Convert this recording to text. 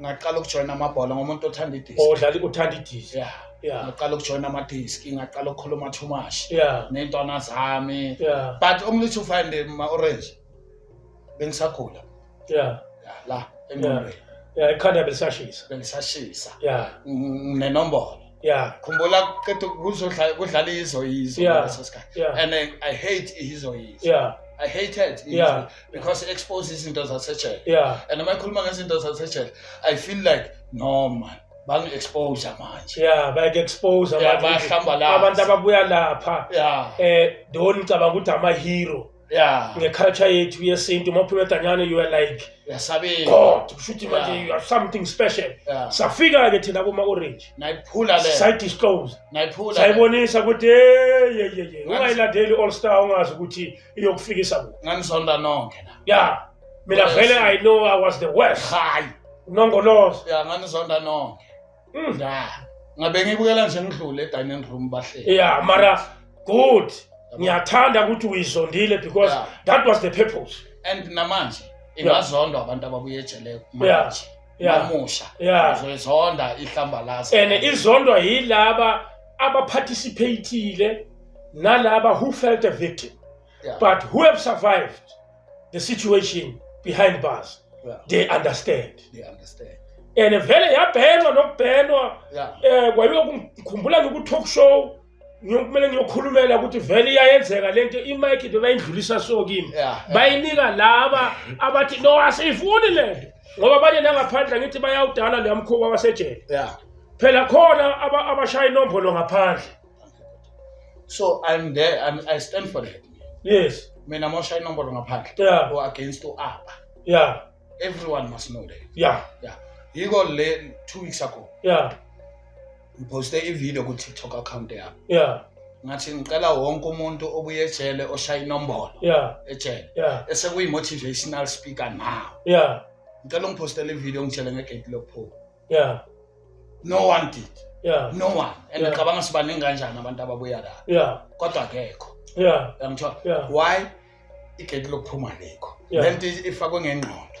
ngaqala ukujoyina amabhola ngomuntu othanda idisk odlala uthanda idisk yeah yeah ngaqala ukujoyina amadisk ngaqala ukukhuluma too much yeah nentwana zami yeah but umlithu find ma orange bengisakhula yeah yeah la engqondweni yeah ekhanda belisashisa belisashisa yeah nenombolo yeah khumbula qeda kuzodlala kudlala izo yizo yeah. ngaleso sikhathi yeah. and I, I hate izo yizo yeah I hate it yeah. because it exposes izinto zasejele yeah. and uma ikhuluma ngezinto zasejele I feel like no man bangi-expose manje ya bayaku-expose abantu ababuya lapha um eh, don ngicabanga ukuthi ama-hero yeah ngeculture yethu yesintu uma uphuma eganyane you are like yasabeka god kusho ukuthi manje Yeah. you are something special yeah safika-ke thina kuma-orange nayiphula le sayidisclose nayiphula le. sayibonisa ukuthi yeyeyeye ungayilandeli i-all star ungazi ukuthi iyokufikisa kuphi nganizonda nonke la ya mina Yes. vele i know i was the worst hayi nongoloza ya nganizonda nonke Mdala. Ngabe ngibukela nje ngidlule edining room bahleli. Yeah, mara good. Ngiyathanda ukuthi uyizondile because yeah. that was the purpose. And namanje ingazondwa abantu ababuye ejele manje. Yeah. Namusha. Yeah. Uzoyizonda ihlamba lazo. And izondwa yilaba abaparticipatile nalaba who felt a victim. Yeah. But who have survived the situation behind bars, yeah. they understand. They understand. And vele yabhenwa nokubhenwa yeah. eh kwayokukhumbula ngiku-talk show ngiyokumele ngiyokhulumela ukuthi vele iyayenzeka lento imike into bayindlulisa so kimi bayinika laba abathi no asiyifuni lento ngoba abanye nangaphandle ngithi bayawudala leya mkhuba wasejele phela khona abashaya inombolo ngaphandle so i'm there I'm, i stand for that yes mina mosha inombolo ngaphandle yeah. or against uapa yeah everyone must know that yeah yeah yiko le two weeks ago yeah ngiposte ivideo ku-tiktok account yami yeah ngathi ngicela wonke umuntu obuye ejele oshaya inombolo yeah ejele yeah esekuyi-motivational speaker now yeah ngicela ungiphostele ivideo ngitshele ngegate lokuphuma yeah no one did yeah no one and Yeah. ngicabanga sibaningi kanjani abantu ababuya la yeah kodwa akekho yeah uyangithola yeah why igedi lokuphuma likho Yeah. lento ifakwe ngengqondo